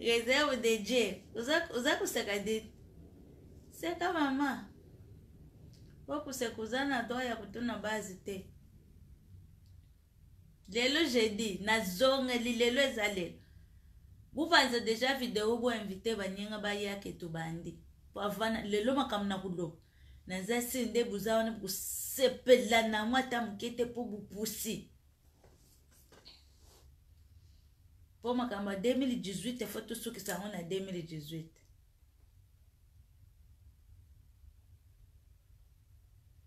réserve de dieu oza koseka de seka mama po koseka oza na droit ya kotuna base te Lelo jeudi na zongeli lelo eza lelo bupanza deja video bo invite baninga baya ke tobandi po avana lelo makambo na koloba naza sire nde boza wana bokosepela na yango ata moke te mpo bopusi mpo makambo ya 2018 efo tosukisa yango na 2018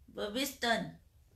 bobiston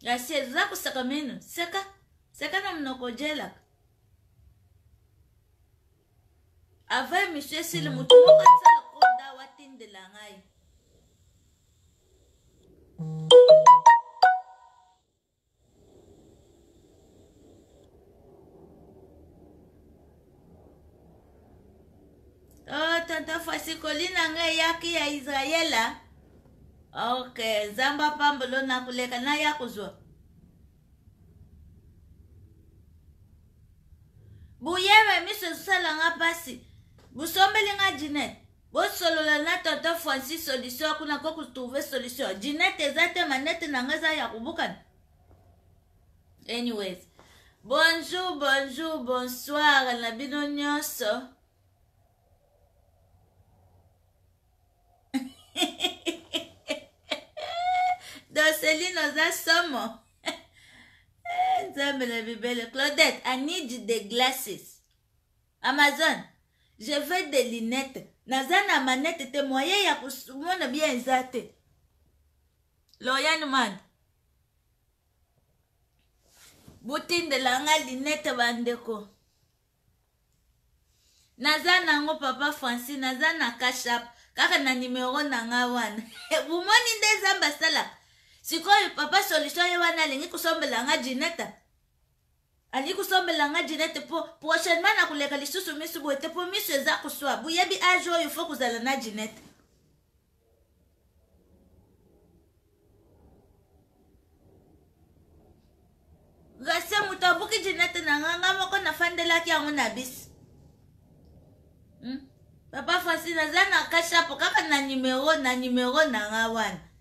ya serza kosaka mino seka seka na monoko ojelaka ava emisio esili mm. motu moko asala konda watindela ngai mm. oh tata fasi kolina nga eyaki ya israela ok nzambe apambolo na koleka na ya kozwa boyeba miso ezosala nga mpasi bosombeli nga jinete Bosolola na tonton Francis solution akuna ko ku trouver solution. Ginette eza te manette na nga eza ya kobukana. Anyways. Bonjour, bonjour, bonsoir na bino nyonso. Doceline oza somo. Eh, Nzambe na bibele. Claudette, I need the glasses. Amazon je veux des lunettes naza na manette te moyen ya komona bien eza te Lauriane Manda botindela nga linete bandeko naza nango papa francis naza na cashap kaka na nimero na nga wana bomoni nde zamba asalaka sikoyo papa solution ye wana alingi kosombela nga jineta Alingi kosombela nga Jeanette po prochainement na koleka lisusu misu boye te po misu eza koswa. Boyebi age oyo faut kozala na Jeanette. Gracia moto abuki Jeanette na nga nga moko nafandelaki yango na bisi. Hmm? Papa Francis naza na kashapo kaka na numero na numero na nga wana.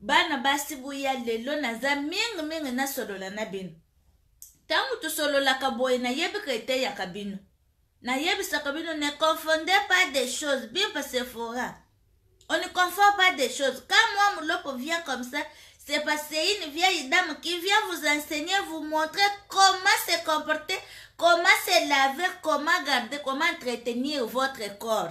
Bana basi boya lelo naza mingi mingi nasolola na bino. Tango tosololaka boye nayebi ke eteyaka bino. Nayebisaka bino ne confondez pas des choses, bimpa Sephora. On ne confond pas des choses. Quand moi Mulopo vient comme ça, c'est parce que c'est une vieille dame qui vient vous enseigner, vous montrer comment se comporter, comment se laver, comment garder, comment entretenir votre corps.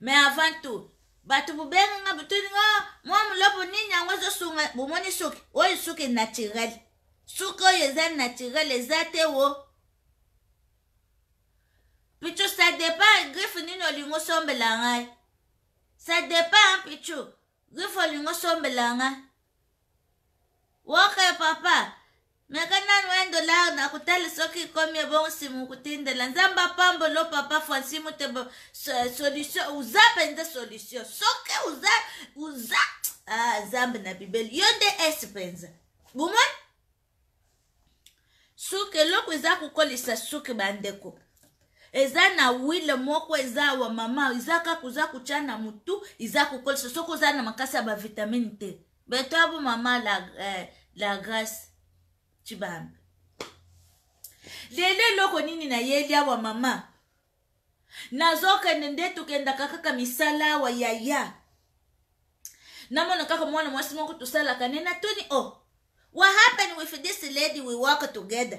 mais avant tout bato bobenga nga botuni nga oh, mwa molopo nini yango ezosunga bomoni suki oyo suki naturel suki oyo eza naturel eza te wo pichu ça dépend griffe nini olingi osombela ngai ça dépend pichu griffe olingi osombela ngai woke papa Meka nanu un dollar na kotala soki ekomi ebongo simu kotindela nzambe apambolo papa franci mutebo solution uza mpenza solution soki uza uza ah, nzambe na bibeli yo nde esi mpenza bomoni suki eloko eza kokolisa suki bandeko eza na wile moko eza awa mama eza kaka oza kotya na motu eza kokolisa soki oza na makasi ya bavitamine te Betabu mama la, eh, la grace Chibambe. Lelo eloko nini nayeli awa mama? Nazokende nde tokendaka kaka misala awa yaya. Namona kaka mwana mwasi moko tosalaka ne natuni oh what happened with this lady we work together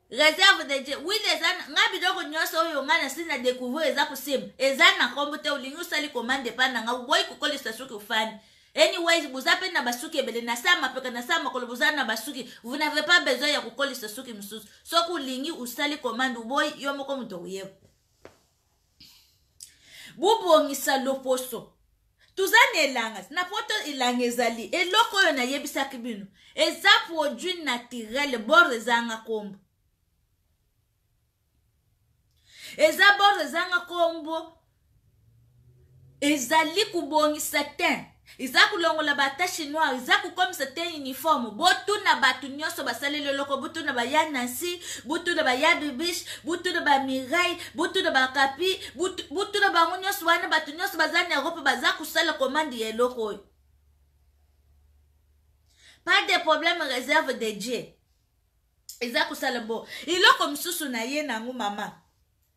reserve de dieu wili eza ngai biloko nyonso oyo ngai nasi na découvrir eza kosimba eza na nkombo te olingi osali commande epai na ngai oboyi kokolisa soki ofandi anyways boza mpe na basuki ebele na saa mapeka na saa makolo boza na basuki vous n'avez pas besoin ya kokolisa suki mosusu soki olingi osali commande oboyi yo moko moto okoyeba bobongisa loposo toza na elanga na poto elanga ezali eloko oyo nayebisaki bino eza produit naturel bord ezanga nkombo eza bord ezanga nkombo ezali kobongisa teint eza kolongola batache noire eza kokomisa te uniforme botuna bato nyonso basaleli eloko botuna baya nancy botuna baya bibish botuna bamirai botuna bakapi botuna bango nyonso wana bato nyonso baza na erope baza kosala komande ya eloko oyo pas de problème réserve de dieu eza kosala bo eloko mosusu na ye nango mama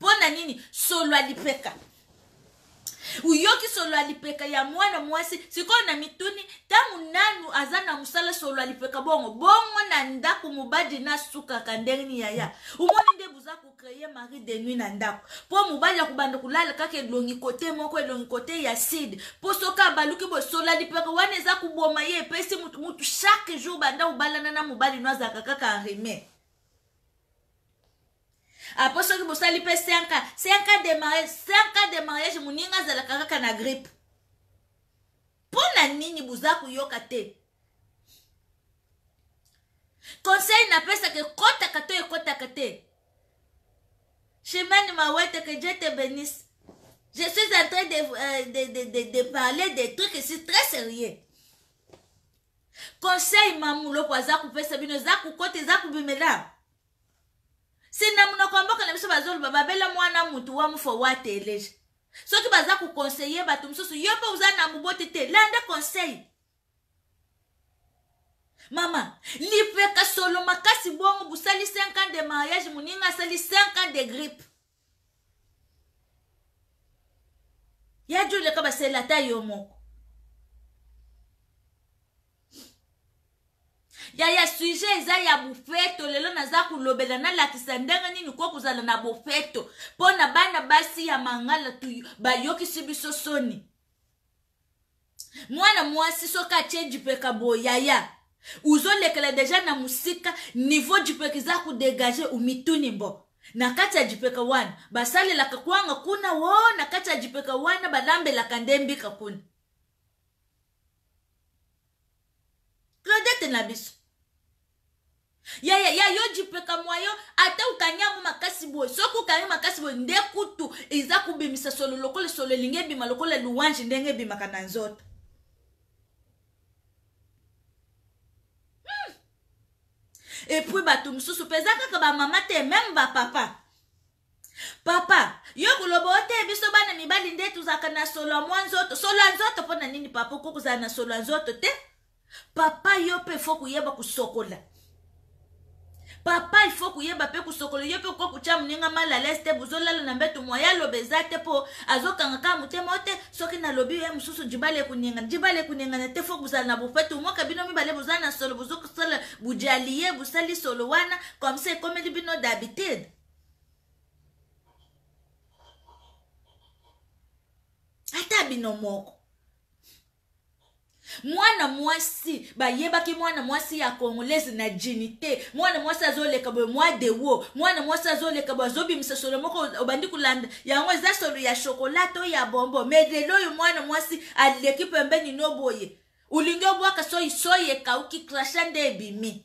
mpo na nini solo ya lipeka uyoki solo ya lipeka ya mwana mwasi sikoyo na mituni ntango nanu aza na mosala solo ya lipeka bongo bongo na ndako mobali na sukaka ndenge nini yaya omoni nde boza kocreye marie de nuit na ndako mpo mobali akobanda kolala kaka elongi kote moko elongi kote ya side mpo soki abaluki boye solo ya lipeka wana eza koboma ye epesi motu chaque jour banda obalana na mobali no azalaka kaka arime apo soki bosali mpe 5 ans 5 ans de mariage 5 ans de mariage moninga azalaka kaka na grippe mpo na nini boza koyoka te conseil napesaka ekotaka to ekotaka te chimene mawete que dieu te benisse je suis en train de, euh, de, de, de, de parler des trucs ici très sérieux conseil mamuloko aza kopesa bino eza kokota eza kobimela si na monoko ya mboka na biso bazoloba babela mwana mutu wa mufo wa teleje soki baza kokonseye bato mosusu yo mpe oza na moboti te landa conseil mama lipeka solo makasi bongo bosali 5 ans de mariage moninga asali 5 ans de grippe ya joli aka basela ata yo moko ya ya sujet eza ya bofeto lelo naza kolobela nalakisa ndenge nini ko kozala na bofeto mpo na bana basi ya mangala tu bayokisi biso soni mwana mwasi soki atye jipeka boye yaya uzolekela deja na mosika niveau jipeka eza kodegage omituni mbo na kati ya jipeka wana basalelaka kwanga kuna wo oh, na kati ya jipeka wana balambelaka nde mbika kuna claudete na biso ya, ya, ya yo jipeka mwa yo ata okangi yango makasi boye soki okangi makasi boye nde kutu eza kobimisa solo lokola solo elingi ebima lokola louange ndenge ebimaka na nzoto hmm. epuis bato mosusu mpe eza kaka bamama te meme bapapa Papa, yo koloba ote biso bana mibali nde tozalaka na solo ya mwa nzoto. Solo ya nzoto mpo na nini papa okoki kozala na solo ya nzoto te? Papa yo mpe fo koyeba kosokola. Papa il faut koyeba mpe kosokola yo mpe okoki kotya moninga mal alaise te bozolala na mbeto mwa ya loba eza te mpo azokanga kaka motema te soki nalobi ye mosusu jibala ekoningana jibala ekoningana te fo kozala na bofete omoka bino mibale boza na solo bozokosala bojali ye bosali solo wana comme ça ekomeli bino d'habitude ata bino moko mwana mwasi bayebaki mwana mwasi ya congolaise na jini te mwana mwasi azoleka boye mwa dewo mwana mwasi azoleka boye azobimisa solo moko obandi kolanda yango eza solo ya shokola to ya bombo me lelo oyo mwana mwasi aleki pembeni no boye olingi obwaka soyi soyi ekauki krasha nde ebimi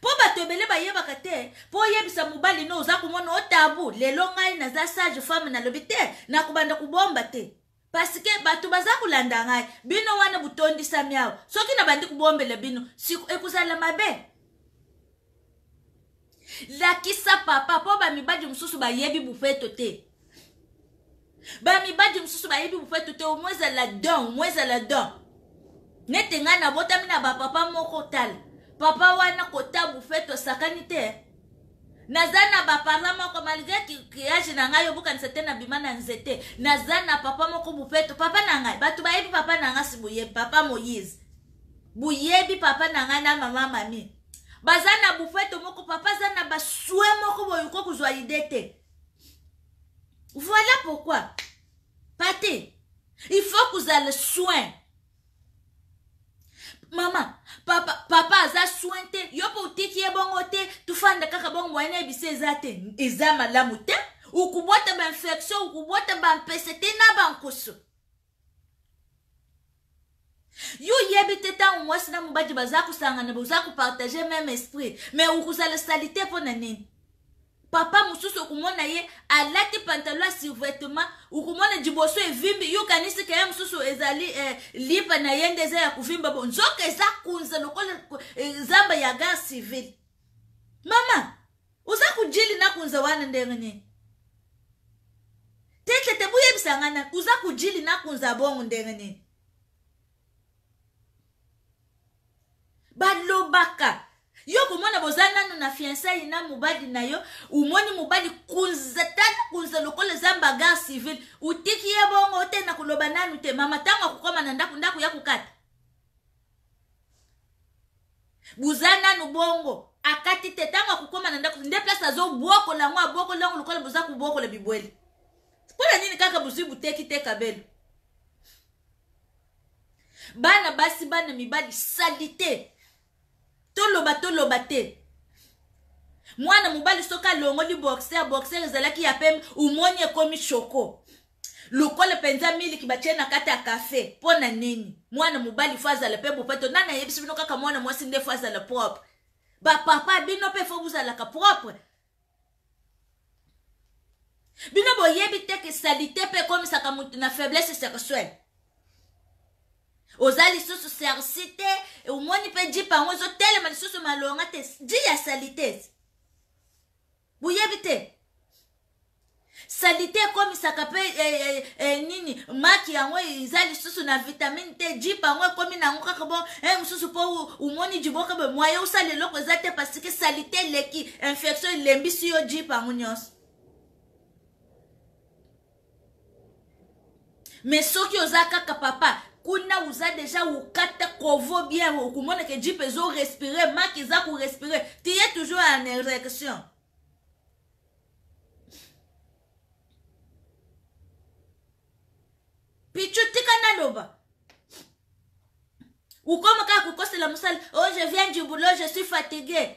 po bato ebele bayebaka te po oyebisa mobali no oza komona o tabu lelo ngai naza sage femme nalobi te nakobanda kobomba te pasike bato baza kolanda ngai bino wana botondisami awa soki nabandi kobombela bino ekozala mabe lakisa papa mpo bamibali mosusu bayebi bofeto te ba mibadi mosusu bayebi bopatu te omoi ezala don omoi ezala don nete ngai nabotami na bapapa moko tala papa wana kota bufeto asakani te naza na baparla moko malgre kiage na ngai obokanisa te nabima na nzete naza na papa moko bufeto papa na ngai bato bayebi papa na ngai si boyebi papa moïse boyebi papa na ngai na mama mami baza na bufeto moko papa aza na baswe moko boyoko kozwa ide te voilà pourquoi pate il faut kozala soin mama papa, papa aza soin te yo mpe otiki ye bongo te tofanda kaka bongo moye na yebisa eza te eza malamu te okobwata bainfection okobwata bampese te na bankoso yo oyebi te ntango mwasi na mobali baza kosangana boza kopartage meme esprit me okozala salite mpo na nini papa mosusu okomona ye alati pantalo ya survetement okomona liboso evimbi yo kanisi keye mosusu ezali eh, lipa na ye nde eza ya kovimba bo nzoka eza kunza lokola eh, zamba ya gare civile mama Oza kujili na kunza wana ndenge nini? Tete te boyebisa nga na oza kujili na kunza bongo ndenge nini? Balobaka yo komona boza nanu na fiansai na mobali na yo omoni mobali kunza tata kunza lokola eza mbagar civil otiki ye bongo te na koloba nanu te mama ntango akokoma na ndako ndako ya kokata boza nanu bongo akati te ntango akokoma na ndako nde place azobwokola yango abwokoli yango lokola boza kobwokola bibwele mpo na nini kaka bozwi buteki te kabelo bana basi bana mibali salite toloba toloba te mwana mobali soki alongoli boxer boxer ezalaki ya pembe omoni ekomi shoko Lokole penza miliki batie na kati ya cafe pona nini? Mwana mobali faut azala pe bopeto nani ayebisi bino kaka mwana mwasi nde faut azala propre? Ba papa bino pe faut bozalaka propre bino boyebi te ke salite pe ekomisaka moto na faiblesse sexuelle oza lisusu sersi te omoni mpe jipa yango ezotelema lisusu malonga te ji ya salites boyebi te salite ekomisaka mpe e, e, e, nini maki yango eza lisusu na vitamine te jip yango ekomi na yango kaka bo e mosusu mpo omoni jiboka boye moye osala eloko eza te parce que salite eleki infection elembisi yo jip yango nyonso me soki oza kaka papa kuna uza deja ukata kovo bien okomona ke jipe ezo respire maki eza korespire tiye toujours en érection pichu tika naloba ukoma kaka kokosela mosala oh je viens du boulot je suis fatigué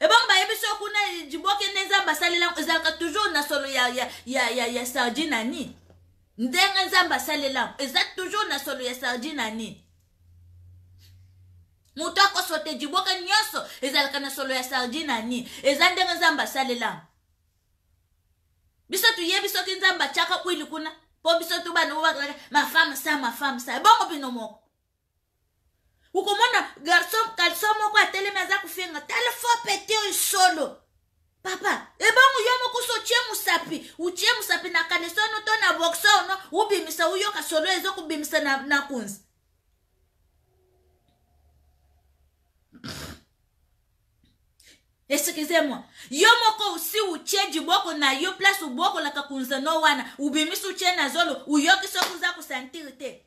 ebongo bayebi so kuna liboke nde nzambe asalela ezalaka toujours na solo ya, ya, ya, ya, ya sardine ani ndenge nzambe asalela eza toujours na solo ya sardine ani moto akosote liboke nyonso ezalaka na solo ya sardine ani eza ndenge nzambe asalela biso toyebi soki nzambe atyaka kwili kuna mpo biso to bana oyo bakalaka mafame sa mafame sa ebongo bino moko okomona garçon kalso moko atelemi aza kofenga tala fo peti oyo solo papa ebongo yo mokusu otie mosapi otie mosapi na kanisa ono to na boxe ono obimisa oyoka solo ezo kobimisa na, na kunzi excusez-moi yo moko osi utie diboko na yo place obokolaka kunzano wana obimisi utie na zolo oyoki soki oza kosantire te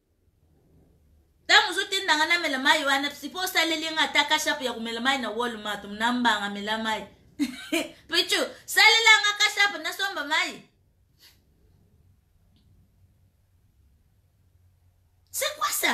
ntango ozotinda nga namela mai wana sipo osaleli nga ata kashapu ya komela mai na walmart na mbanga mela mai pichu salela nga kashapu nasomba mai c'est quoi ça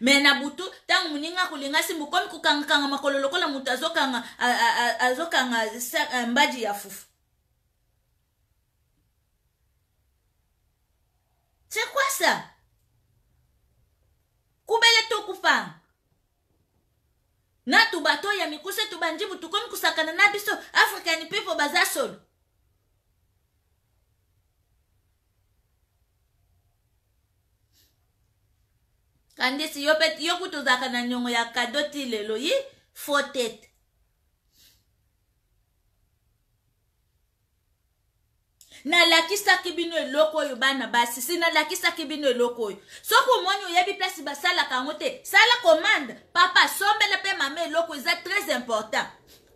me na butu ntango moninga akolinga simba okomi kokangakanga makolo lokola moto azokanga azokanga eh, mbaji ya fufu c'est quoi ça kubele tokufanga na tubato ya mikuse tubanjibu tukomi kosakana na biso african people baza solo kandisi yo pe yo kutu ozalaka na niongo ya kado ti lelo yi fotete nalakisaki bino eloko oyo bana basi si nalakisaki bino eloko oyo soki omoni oyebi place basalaka yango te sala commande papa sombela mpe mama eloko eza très important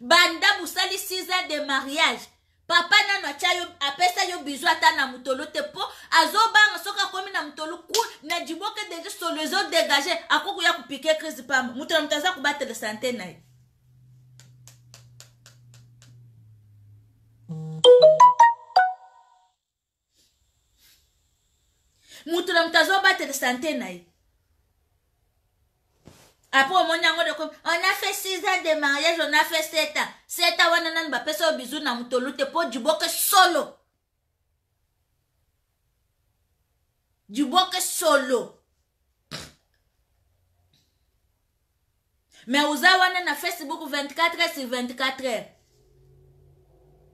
banda bosali 6 ans de mariage papa nano atya yo apesa yo bizu ata na motolo te mpo azobanga soki akomi na motolo ku na jiboke deja solo ezodegage akokoya kopike crise pamba moto na moto aza kobatela sante na ye moto na moto azobatele sante na ye apres omoni yango doko on a fait six ans de mariage on a fait sept ans sept ans wana nani bapesa yo bizu na motolu te mpo diboke solo diboke solo mais oza wana na facebook 24 heures sur 24 heures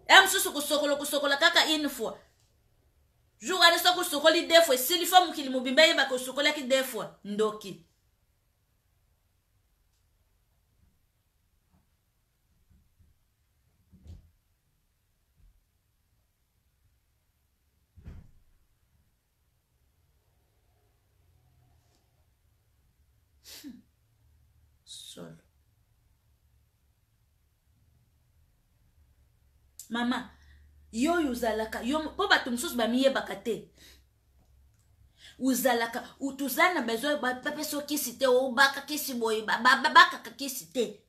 ya mosusu kosokolo kosokola kaka une fois jour wana soki osokoli deux fois esili fo mokili mobimba eyebaka osokolaki deux fois ndoki solo mama yo oyo ozalaka yo mpo bato mosusu bamiyebaka te ozalaka toza na besoin bapesa kisi te obaka kisi boye babakaka kisi te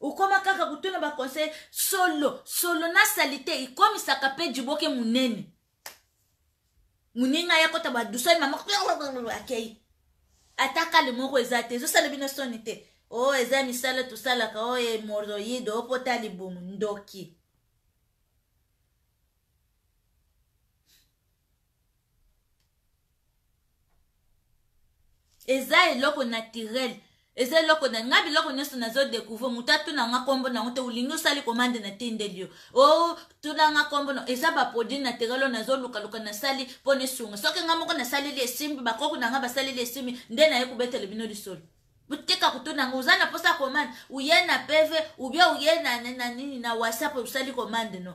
Okoma kaka kotuna ba conseil solo solo na salite ikomisaka pe jiboke munene muninga ya kota ba dusani mama akei ata kale moko eza te ezosala bino soni te o oh, eza misala tosalaka o oh, hemoroide o oh, pota libumu ndoki eza eloko naturel eza eloko na ngai biloko nyonso nazo découvrir moto atuna nga nkombo nango te olingi osali komande na tindeli yo o oh, tuna nga nkombo na eza baproduit naturel oyo nazolukaluka nasali mpo na esunga soki ngai moko nasaleli esimbi bakoko na ngai basaleli esimbi nde naye kobetele bino lisolo botika kotuna yango oza na mposa komande uye na pv ubia uye na, na, na nini na whatsapp osali komande no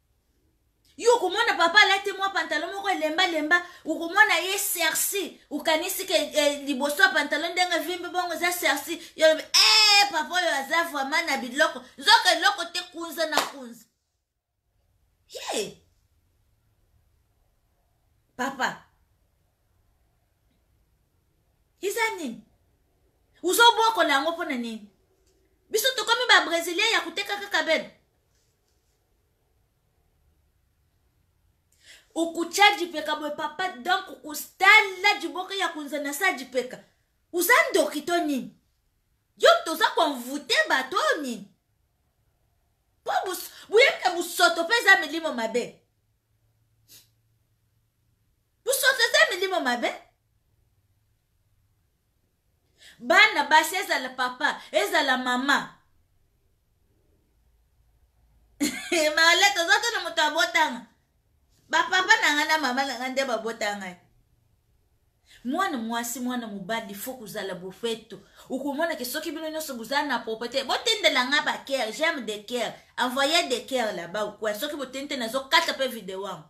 yo okomona papa alati mwa pantalo moko elemba lemba okomona ye serci okanisi ke eh, liboso ya pantalo ndenge vimbi bongo eza serci yo olobi ee eh, papa oyo aza vraimen na biloko nzoka eloko te kunza na kunza ye papa eza nini ozobokola yango mpo na nini biso tokomi babrésilien ya koteka kaka bene ukuchajipeka boye papa donc kustala jiboka ya kunza na sajipeka uza ndoki to nini yo toza konvute bato oyo nini mpo boyebi na bosoto mpe eza milimo mabe bosoto eza milimo mabe bana basi ezala papa ezala mama male toza te na moto abotanga bapapa na ngai na mama na ngai nde babota ngai mwana mwasi mwana mobali fo kozala bofeto okomona ke soki bino nyonso bozala na propriété botindela ngai baker j'aime de ker envoye de ker laba okwa soki botendi te nazokata mpe video yango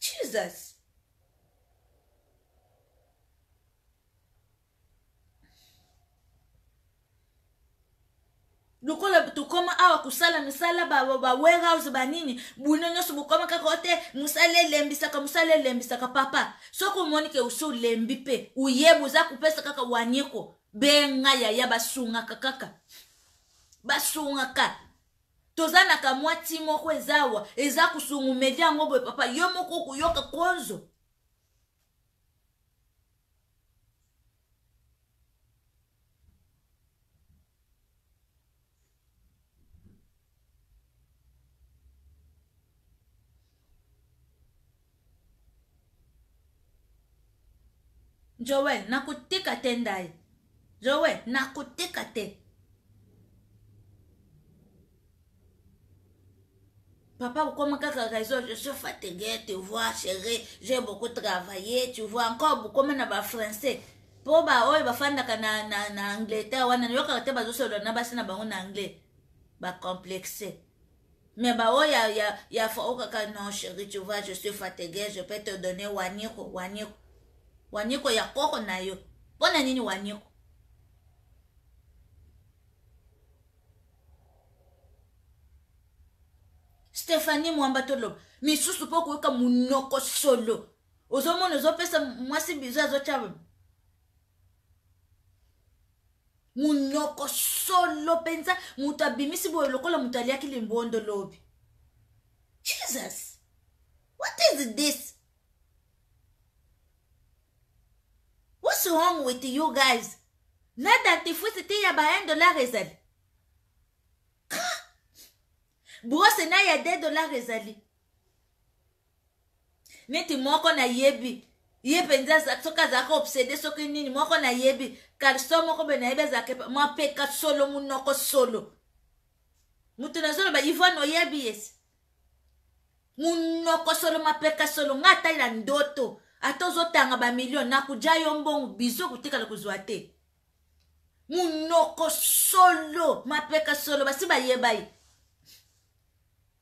jesus lokola tokoma awa kosala misala bawarehouse ba, ba banini bwino nyonso bokoma kaka o te mosala elembisaka mosala elembisaka papa soki omoni ke osi olembi mpe oyeba oza kopesa kaka wanieko benga yaya basungaka kaka basungaka toza na kamwa ti moko eza awa eza kusungu media yango boye papa yo moko okuyoka konzo joel nakotika te ndai joel nakotika te Papa, vous comme quelqu'un raison, je suis fatigué, tu vois, chérie, j'ai beaucoup travaillé, tu vois, encore beaucoup comme na français. Po ba oyo bafandaka na, na, na Angleterre wana nayokaka te bazosolola na basi na bango na anglais. Ba complexe. Mais ba oyo ya ya ya fao kaka non chérie tu vois je suis fatigué je peux te donner waniko waniko waniko ya koko na yo mpo na nini waniko Stéphanie Mwamba toloba misusu mpo koyoka munoko solo ozomona ozopesa mwasi bizu azotya munoko solo mpenza moto abimisi boye lokola moto aliaki limbondo lobi jesus what is this what's wrong with you guys na dentifrice te ya ba 1 dollar ezali brose na ya 2 dollar ezali neti moko nayebi ye mpenza soki azalaka obsede soki nini moko nayebi kalso moko be nayebi azalaka mapeka solo monoko solo moto nazoloba ivone oyebi yesi monoko solo mapeka solo ngai ata ya ndoto ata ozotanga bamilio nakuja yo mbongo bizo kotikala kozwa te monoko solo mapeka solo basi bayebai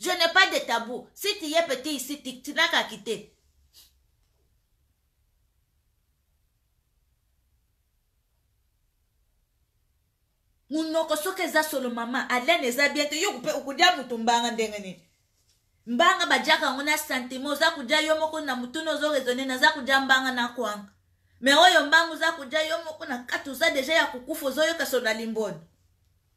Je n'ai pas de tabou. Si tu es petit ici, tu, tu n'as qu'à quitter. munoko soki eza solo mama alene eza bien te yo mpe okodia moto mbanga ndenge nini mbanga bajaka yango na sentiment oza kodia yo moko na motuna ozo raisonne naza kodia mbanga na kwanga me oyo mbanga oza kodia yo moko na kati oza deja ya kokufa ozoyoka solo na limboni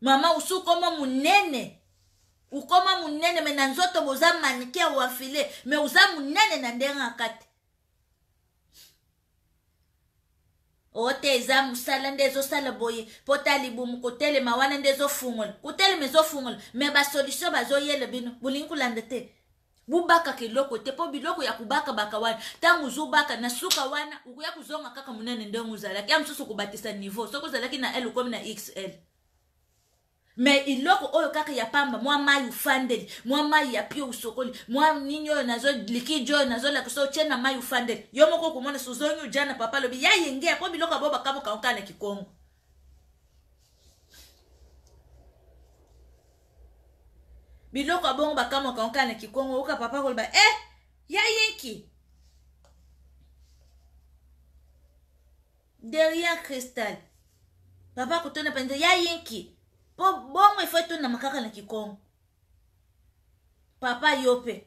Mama usu ukoma munene. Ukoma munene me na nzoto boza manike ya wafile me uza munene na ndenge akati. ote eza mosala nde ezosala boye mpo ta libumu kotelema wana nde ezofungola kotelema ezofungola me basolution bazoyela bino bolingi kolanda te bobakaka eloko te mpo biloko ya kobakabaka wana ntango ozobaka na suka wana okoya kozonga kaka monene ndenge ozalaki ya mosusu okobatisa niveau soki ozalaki na l okomi na xl me eloko oyo kaka ya pamba mwa mai ofandeli mwa mai ya pio osokoli mwa nini oyo nazo likidi oyo nazolakisa otie na mai ofandeli yo moko okomona sozongi oja na papa alobi ya yenge mpo biloko ya bo bakabokaokaa na kikongo biloko ya bongo bakamwaka oka na kikongo oyoka papa koloba e eh, ya yenki derrière cristal papa kotona mpenza ya yenki mpo bongo efo etonama kaka na kikongo papa yo mpe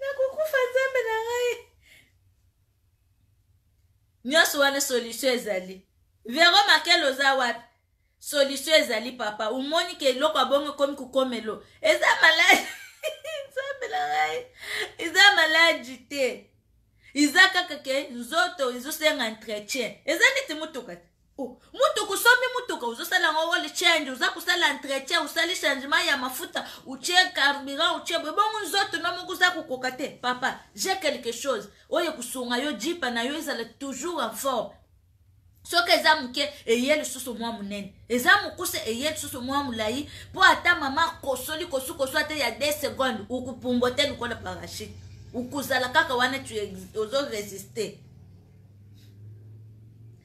nakokufa nzambe na ngai nyonso wana solution ezali vero makele oza wapi solution ezali papa omoni ke eloko ya bongo ekomi kokomelo eza maladi nzambe na ngai eza maladi te eza kaka ke nzoto ezosenga entretien eza neti motuka te Oh, mutu kusombi mutuka ozosala yango oil change oza kusala entretien osali changement ya mafuta utie carburant utie boye bongo nzoto no moko oza kokoka te papa j'ai quelque chose oyo ekosunga yo jipa na yo ezala toujours en forme soki eza moke eye lisusu mwa monene eza mokuse eye lisusu mwa molai mpo ata mama akosoli kosukosu ata ya 2 seconde okopumbwa te lokola parachute okozala kaka wana ozoresiste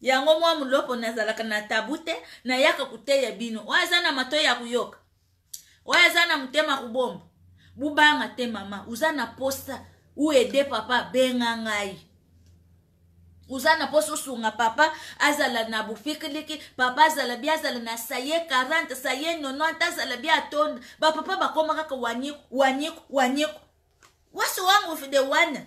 Yango mwa mulopo nazalaka na tabu te nayaka koteya bino oyo aza na matoi ya koyoka oyo aza na motema kobomba bobanga te mama oza na posa uede papa benga ngai oza na posa osunga papa azala na bofikiliki papa azala bi azala na saye 40 saye 90 azala bi atonda bapapa bakoma kaka waniku waniku waniku wasi wangu de wana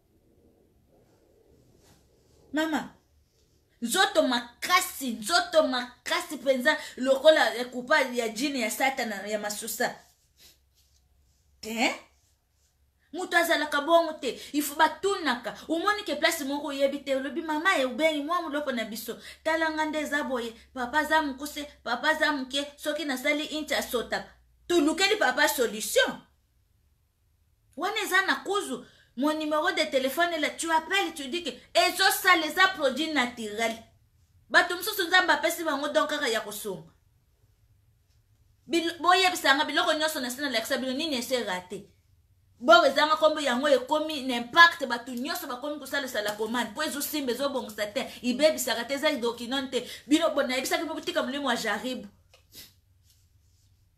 mama nzoto makasi nzoto makasi mpenza lokola ekupa ya jini ya satana ya masusa te eh? moto azalaka bongo te ifo batunaka omoni ke place moko oyebi te olobi mama ye obengi mwa moloko na biso talanga nde eza boye papa aza mokuse papa aza moke soki nasali inti asotaka tolukeli papa solution wana eza na kuzu mon numero de telephone la tu appelle tu dis que ezosala eza produit naturel bato mosusu nzambe apesi bango don kaka ya kosunga boyebisanga biloko nyonso na sina lakisa bino nini ese rate bor ezanga nkombo yango ekomi na impact bato nyonso bakomi kosalisa la commande mpo ezosimba ezobongisa te ibebisaka te eza dokinon te bino nayebisaki bino botika molimo ya jaribu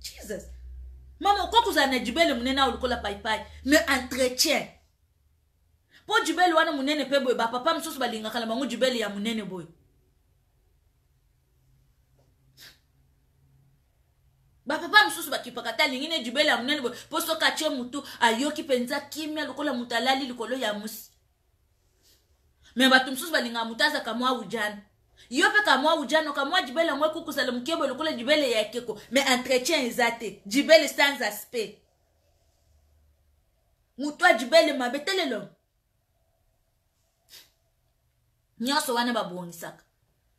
jesus mama okoki kozala na jubele monene awa lokola paipai me entretien mpo jubele wana monene mpe boye bapapa mosusu balingaka na bango jubele ya monene boye bapapa mosusu bakipaka ata alingi ne jubele ya monene boye mpo soki atye motu ayoki mpenza kimia lokola moto alali likolo ya mosi me bato mosusu balingaka moto aza kamwa ujana yo mpe kamwa ujana kamwa jibele yango ekokosala mokebo lokola jibele ya ekeko me entretien eza te jibele sans aspect moto ya jibele mabe telelo nyonso wana babongisaka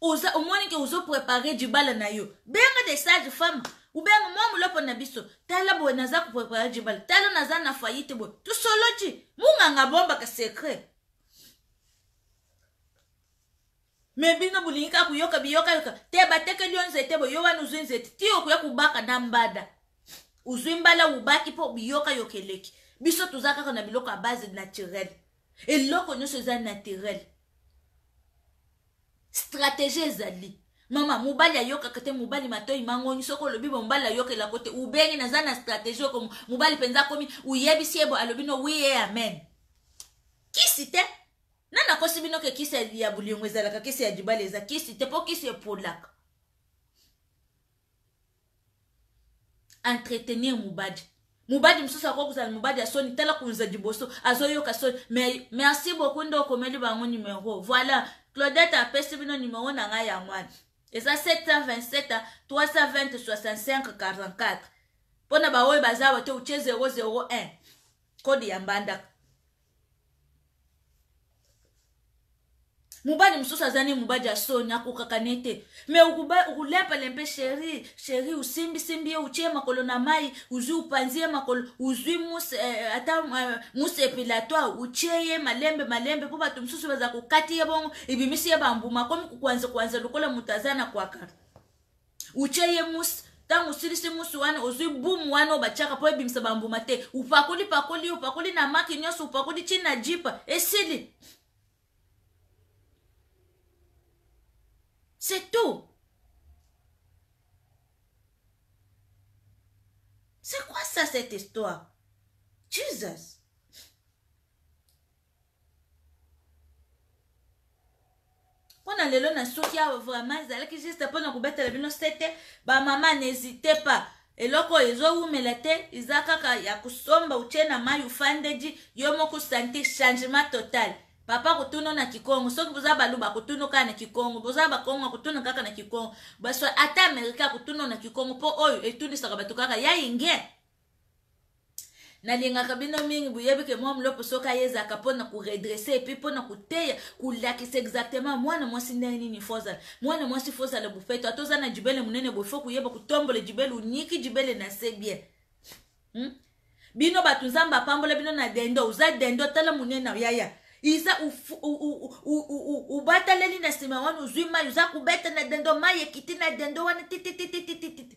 oza omoni ke ozo prepare dibala na yo benga de sage femme ubenga mwa moloko na biso tala boye naza koprepare dibala tala naza na fayite boye tosoloti munganga abombaka secret me bino bolingi kaka koyoka biyokayoka te batekeli yo nzete boye yo wana ozwi nzete ti okoya kobaka na mbada ozwi mbala obaki mpo biyokayoka eleki biso toza kaka na biloko ya base naturele eloko nyonso eza naturel stratégie ezali mama mobali ayokaka te mobali matoi mangongi soki olobi bo mobali ayokelako te ubengi naza na stratégie oko mobali mpenza akomi uyebisi ye bo alobi no wi e amen kisi te na nakosi bino ke kisi ya bolingo ezalaka kisi ya libala eza kisi te mpo kisi epolaka entretenir mubadi mubadi mosusu akoki kozala mubadi ya soni tala koza liboso azoyoka soni mais merci beaucoup nde okomeli bango numero voilà claudette apesi bino numero na ngai yango wana eza 727 320 65 44 mpo na baoyo baza bato otie 001 kode ya mbandaka mobali mosusu aza ne mobali ya soni akokaka ne te me okulempelempe sheri sheri osimbisimbi ye otye makolo na mai ozwi opanzi ye makolo ozwi muse eh, ata eh, muse epilatoire otye ye malembe malembe mpo bato mosusu baza kokati ye bongo ebimisi ye bambuma akomi kokwanza kwanza lokola moto aza na kwaka utie ye musi ntango osilisi musi wana ozwi bumu wana oyo batiaka mpo ebimisa bambuma te upakoli pakoli upakoli na maki nyonso upakoli ti na jipa esili c'est tout c'est quoi ça cette histoire jesus mpona lelo na suki awa vraiment ezalaki juste mpona kobetela bino sete bamama n'hésite pas eloko oyo ezowumela te eza kaka ya kosomba utie na mai ufandedi yo moko sante changement total papa kotuna na kikongo soki boza baluba kotuna kaka na kikongo boza bakongo kotuna kaka na kikongo baso ata amerika kotuna na kikongo mpo oyo etunisaka bato kaka ya inge nalingaka bino mingi boyebi ke mwa mlopo soki aye ezalaka mpo na koredresse epuis mpo na koteya kolakisa exactement mwana mwasi ndenge nini fo ozala mwana mwasi fo ozala bofeto ata oza na jibele monene boye fo koyeba kotombola jibele onyiki jibele na se bien hmm? bino bato nzambe apambola bino na dendo oza dendo tala monene ya yaya iza obataleli na nsima wana ozwi mai oza kobeta na dendo mai ekiti na dendo wana tititititititi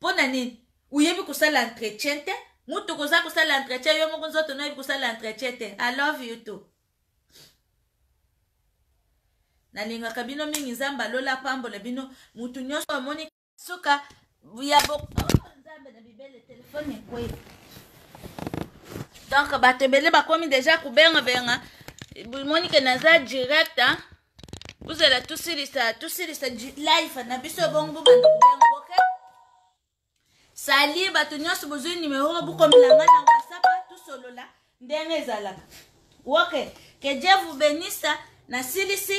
pona nini oyebi kosala entretien te mutu koza kosala entretien yo moko nzoto noyebi kosala entretien te i love you too nalingaka bino mingi nzambe alola apambola bino mutu nyonso amoni suka ya bo oh, nzambe na bibele telefone ekwei donc bato ebele bakomi deja kobengabenga moni ke naza direct hein? bozela tosilisa tosilisa life na biso ebongo bobanda kobengo ok sali bato nyonso bozwi nimero bokomela ngai na whatsapp tosolola ndenge ezalaka ok que dieu vous benisse nasilisi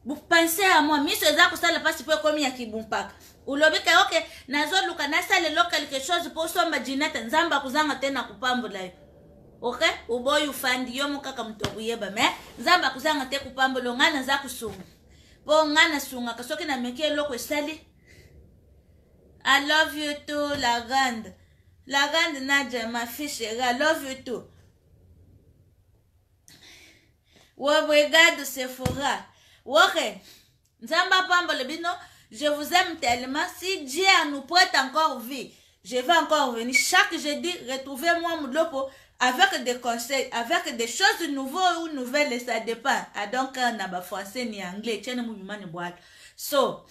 bopense ya mwa miso eza kosala mpasi mpo ekomi ya kibumpaka olobi ke oke nazoluka nasalelo quelque chose mpo osomba jinete nzambe akozanga te na kopambola yo ok oboyi ofandi yo moko kaka moto akoyeba me nzambe akozanga te kopambolo ngai naza kosunga mpo ngai nasungaka soki nameki eloko esali i love you too la grande la grande nadia ma fille chérie i love you too obrigado sephora woke okay. Nzambe apambole bino. Je vous aime tellement. Si Dieu a nous prête encore vie, je vais encore venir. Chaque jeudi, retrouvez-moi Mudlopo avec des conseils, avec des choses nouvelles ou nouvelles, ça dépend. Ah, donc, euh, na ba français ni anglais, tiens, nous mimani boal. So,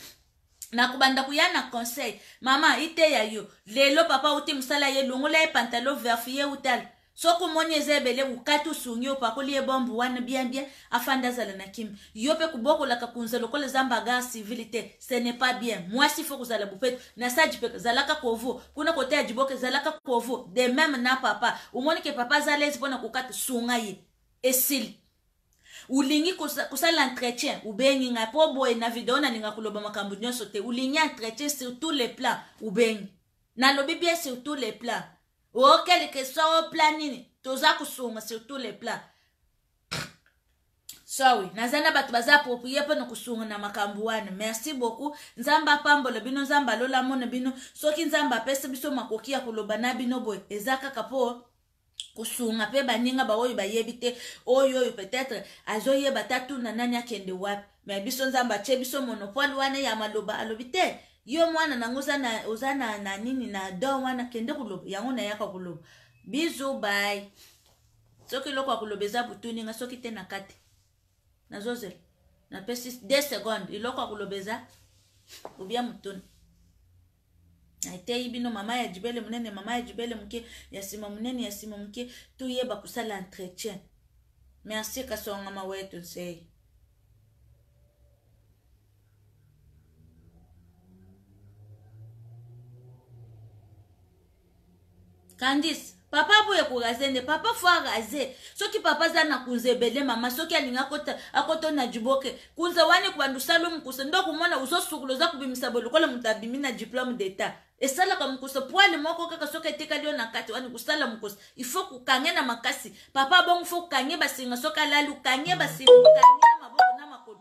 nakobanda koya na conseil mama iteya yo lelo papa uti mosala ye longola ye pantalo verf ye utala Soki omoni eza ebele wukati osungi opakoli ye bombe wana bien bien afanda azala na kimia yo pe kobokolaka kunza lokola eza mbagar civil te ce n'est pas bien muasi il faut kozala bopeto na sage pe zalaka kovo kuna kote ya djiboke zalaka kovo de meme na papa omoni ke papa aza alaise pona kokata sunga ye esili olingi kosala entretien obengi ngai po boye na video nalinga koloba makambo nionso te olingi entretien sur tous les plans obengi nalobi bien sur tous les plans o quelque soit o plan nini toza kosunga sur tous les plans sorry naza na bato baza approprié mpo na kosunga na makambo wana merci beaucoup nzambe apambola bino nzambe alola mona bino soki nzambe apesi biso makoki ya koloba na bino boye eza kaka mpo kosunga mpe baninga baoyo bayebi te oyo oyo peut-être azoyeba ta tuna nani akende wapi me biso nzambe atie biso monopole wana ya maloba alobi te Yo mwana nango oza na oza na na nini na don wana kende koloba yango nayaka koloba bizu bai soki eloko ya koloba eza butuni nga soki te na kati nazozela napesi 2 seconde eloko ya koloba eza obia motuni nateyi bino mama ya jibele monene mama ya jibele moke ya nsima monene ya nsima moke toyeba kosala entretien merci kasonga mawetu nsei candice papa aboye koraze nde papa fo araze soki papa aza na kunza ebele mama soki alingi akotona jiboke kunza wana ekobanda osala mokusa nde okomona ozosukula oza kobimisa boye lokola moto abimi na diplome d'etat esalaka mokusa poile moko kaka soki etikali yo na kati wana kosala mokusa ifo kokange na makasi papa bongo fo kokange basinga soki alali okange basinga okange na maboko na makolo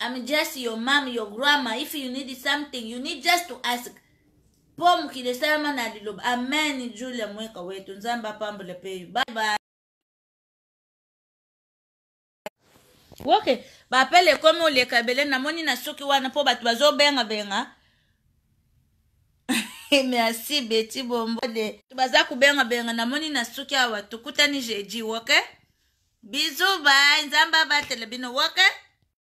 I'm just your mom, your grandma. If you need something, you need just to ask. Po mokili esalama na liloba. Amen, Julia Mweka wetu. Nzambe apambole pe yo. Bye bye. ok bapele ekomi oleka ebele namoni na suki wana mpo bato bazobengabenga merci beti bombode baza kubenga benga namoni na suki awa tokutani jeudi ok bizu bai nzambe abatela bino ok